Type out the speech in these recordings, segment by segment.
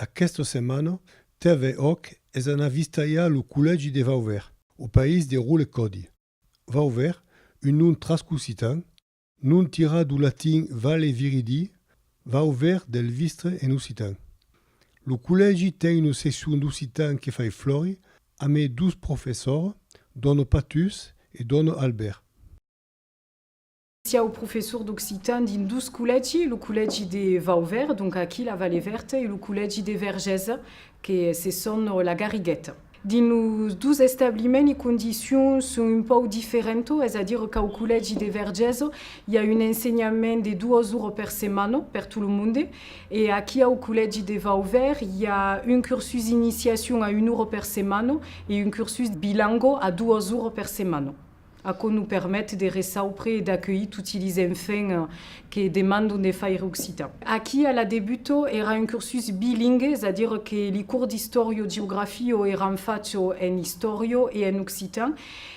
Aquesta setmana, TV Òc es anat vistalhar lo collègi de Vauvert, au país de Rol e Còdi. Vauvert, un nom trascositan, nom tirat dau latin Valle Viridi, Vau ver del vistre en occitan. Lo collègi ten una seccion d'occitan que fai flori a mes dos professors, dòno Patus e dòno Albèrt. Siáu professor d'occitan dins dos collègi, lo collègi de Vau ver, donc aquí la Vallée Verte, e lo collègi de Vergés, que se son la Garrigueta. Dins los dus establiments li condicions son un pauc diferentas, es a dire qu'au collègi de Vergés i a un ensenhament de duas oras per setmana per tot lo monde e aquí au collègi de Vauvert i a un cursus d'iniciacion a una ora per setmana e un cursus bilango a duas oras per setmana. Aquò nos permet de resaupre e d'acuelhir toti lis enfants que demandon de faire occitan. Aquí a la Debuto èra un cursus bilingue, es a dire que li cours d'istòrio geografio èran fachs en istòrio e en occitan.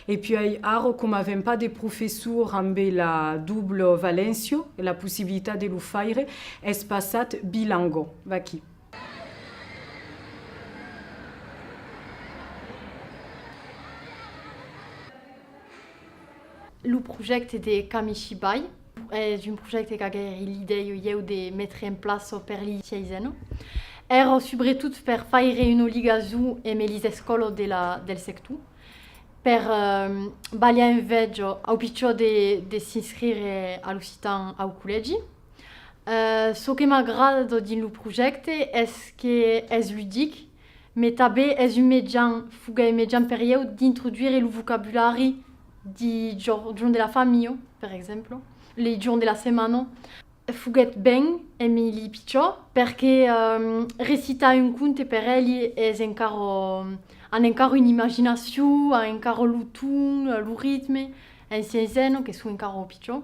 E puèi ara coma avèm pas de professor amb la double valèncio, la possibilitat de lo faire, es passat bilango. Vaquí. Lo projècte de Kamishibai es un projècte qu'a gaire l'idèi o ieu de metre en plaço per li siaiseno, ero subretot per faire una ligason eme lis escòlo de la del sector, per balhar un vèjo au pichó de de s'inscrire a l'occitan au collègi. Çò que m'agrada tot dins lo projècte es que es ludic, mai tanben es un mejan, foguèt un mejan per ieu d'introduire lo vocabulari de jorn de la familha, per exemple, li jorn de la setmana. Foguèt ben Emili pichò perque recitar un conte per elli es encara, an encara una imaginacion, an encara lo ton, lo ritme, en sièisena que son encara pichons.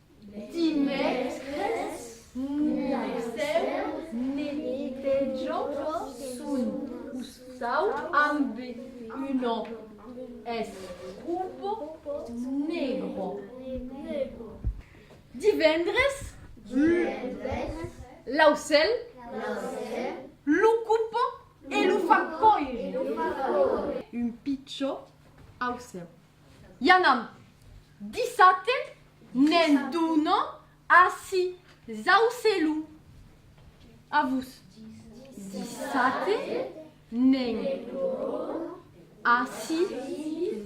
Dimècres, Estèu ne pejor son costat amb una escumpa negra. Divendres, l'aucèl lo copa e lo fa còire. Un pichon aucèu. I anam. Dissabte ne'n donon ací Zaucelu. A vos. Dissabte ne'n donon ací.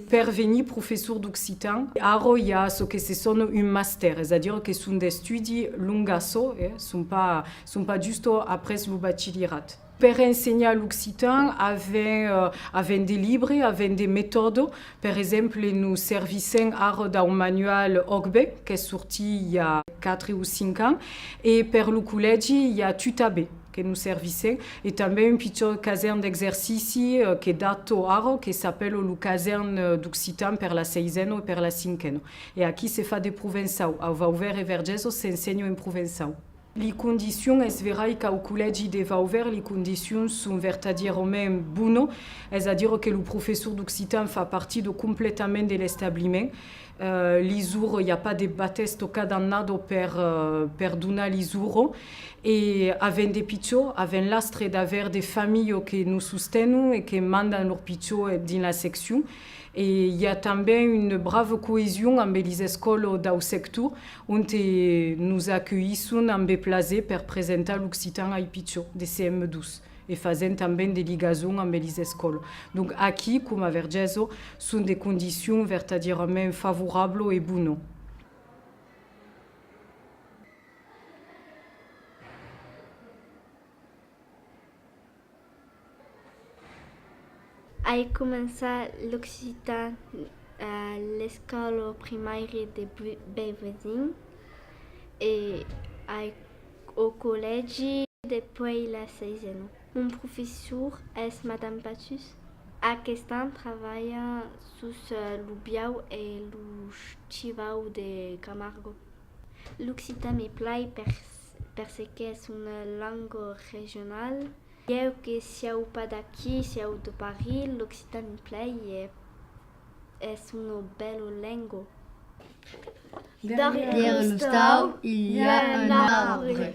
Per venir professor d'occitan, arrò i a çò que se sona un mastèr, es a dire que son d'estudi longaçò, son pas justo après lo bachilirat. Per ensenhar l'occitan avèm de libre, avèm de metòde. Per exemple, nos servissèm ara dau manual Ogbe, qu'es sortit i a quatre o cinc ans, e per lo collègi i a Tutabe que nos servissèm, e tanben un pichòt casèrn d'exercici que dato ara, que s'apèla lo casèrn d'occitan per la seisena e per la cinquena. E aquí se fa de provençau, au Vauvert e Vergés s'ensenha en provençau. Li condicions, es verai qu'au collègi de Vauvert li condicions son vertadierament bono, es a dire que lo professor d'occitan fa partidor completament de l'establiment. Li zuro, i a pas de bates tocat amb nadó per per donar li zuro. E avèm de pichó, avèm l'astre d'aver de familho que nos sostenon e que mandan lor pichó dins la seccion. E i a tanben une brave coesion ambe lis escòlo dau sector, onte nos acueisson ambe plaser per presentar l'occitan ai pichons de CM2 e fasent tanben de ligason ambe lis escòl. Donc aquí, coma ver Gèso, son de condicions vertadièrament favorablo e bono. Ai començat l'occitan a l'escòla primaire de Beuvezin e ai au collègi depuèi la seisena. Mon professor es Madame Patus. Aquest an travalha sus lo biau e lo chivau de Camargo. L'occitan me plai per se qu'es una lenga regional. Ieu que sieu pas d'aquí, sieu de Paris, l'occitan me plai e es una bèla lenga. Darrièr l'ostau, i a un arbre.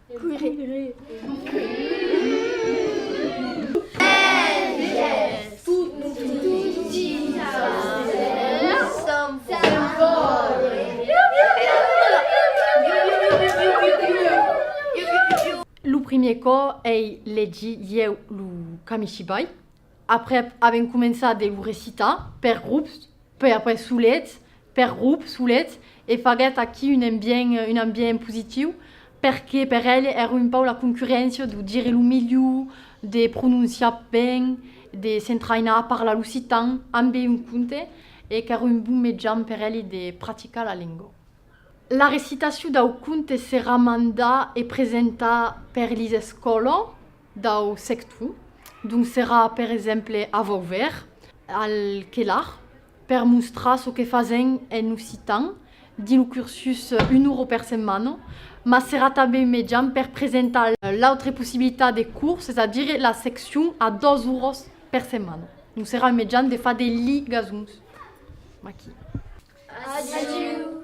Lo primier cò ei legir ieu lo kamishibai. Aprèp avèm començat de lo recitar per grups, puèi après solets, per grups, solets, e faguèt aquí un ambient, un ambient positiu, perque per eles èra un pauc la concurréncia de dire lo melhor, de prononciar ben, de s'entrainar a parlar l'occitan ambe un conte, e qu'èra un bon mejan per eles de practicar la lenga. La recitacion dau conte serà mandat e presentat per lis escòla. dau sectu, donc serà per exemple a Vauvèr, al Quelar, per mostrar çò que fasèm en occitan dins lo cursus una ora per setmana, mas serà tanben un mejan per presentar l'autre possibilitat de curs, es a dire la seccion a dos oras per setmana. Donc serà un mejan de far de ligasons aquí. Adiu!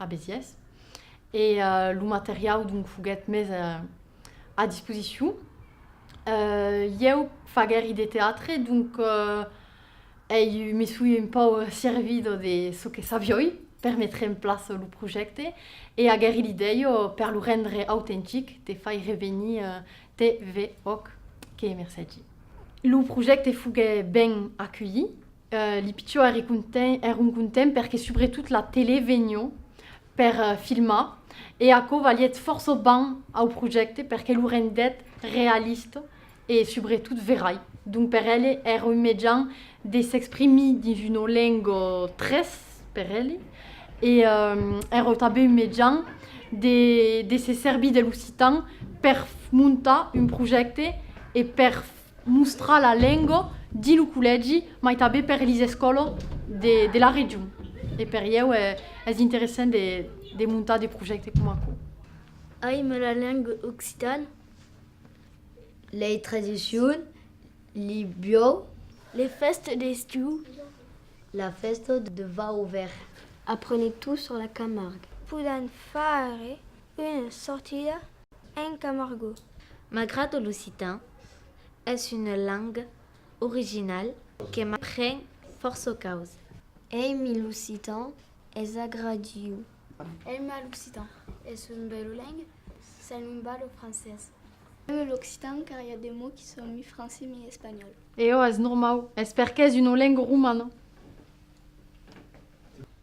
a Besiès e lo materiau donc foguèt mes a disposicion. Ieu faguèri de teatre, donc ei me soi un pau servido de çò que savioi per metre en plaça lo projècte e aguèri l'idèia per lo rendre autentic de faire venir TVOC que mercègi. Lo projècte foguèt ben aculhit Li pichons èri content, èron contents perque subretot la telé vegnon per filmar e aquò valièt fòrça ban au projècte perque lo rendèt realista e subretot verai. Donc per elle èra un mejan de s'exprimir dins una lenga tres per elle e èra tanben un mejan de se servir de l'occitan per montar un projècte e per Mostrar la lengo di lo collègi mai tabé per lis escolo de la region e per ieu es interessent de montar de projècte com aquo. Aime la lengo occitan. Lei tradicion, li biòu. Les fèstes d'estiu. La fèsta de Vau Verd. Aprenez tout sur la Camargue. Podan faire Une sortida en Camargo. Malgrat que l'occitan es una lenga original que m'apren fòrça causas. Ei mi l'occitan es agradiu. Ei ma l'occitan es un bèlo lenga, se non val lo francés. Ei mi l'occitan car i a de mots qui son mi francés mi espanhòl. Eò, es normau, es perqué es una lenga romana.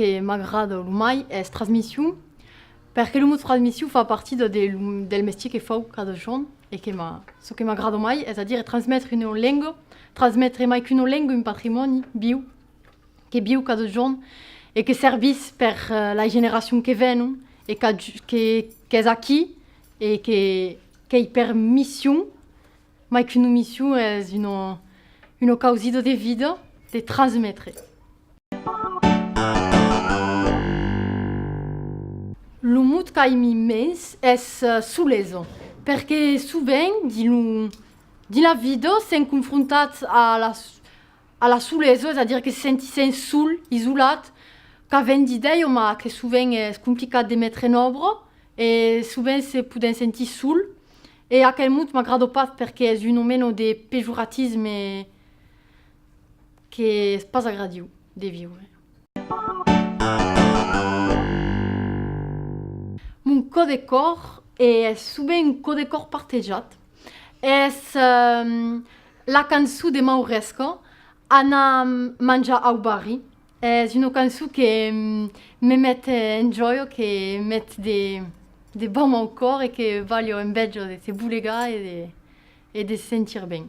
que m'agrada lo mai es transmission, perque lo mot transmission fa partit de, de, del mestier que fau cada jorn e que ma, çò que m'agrada mai, es a dire transmetre una lenga, transmetre mai qu'una lenga, un patrimòni viu, que viu cada jorn e que servís per la generacion que venon e qu'es aquí e qu'ei per mission, mai qu'una mission es una causida de vida de transmetre. Lo mot qu'aimi mens es solesa, perque sovent dins la vida sèm confrontats a las. A la solesa, es a dire que se sentissen sol, isolat, qu'a vent d'ideioma que sovent es complicat de metre en òbra e sovent se poden sentir sol e aquel mot m'agrada pas perque es un o meno de pejoratisme que es pas agradiu de viure. Mon cò de còr e es sovent un cò de còr partejat. Es La cançon de Mauresca, Ana manja au barri, es una cançon que me met en jòia, que met de bam au còr e que balha en bèja de se bolegar e de se sentir ben.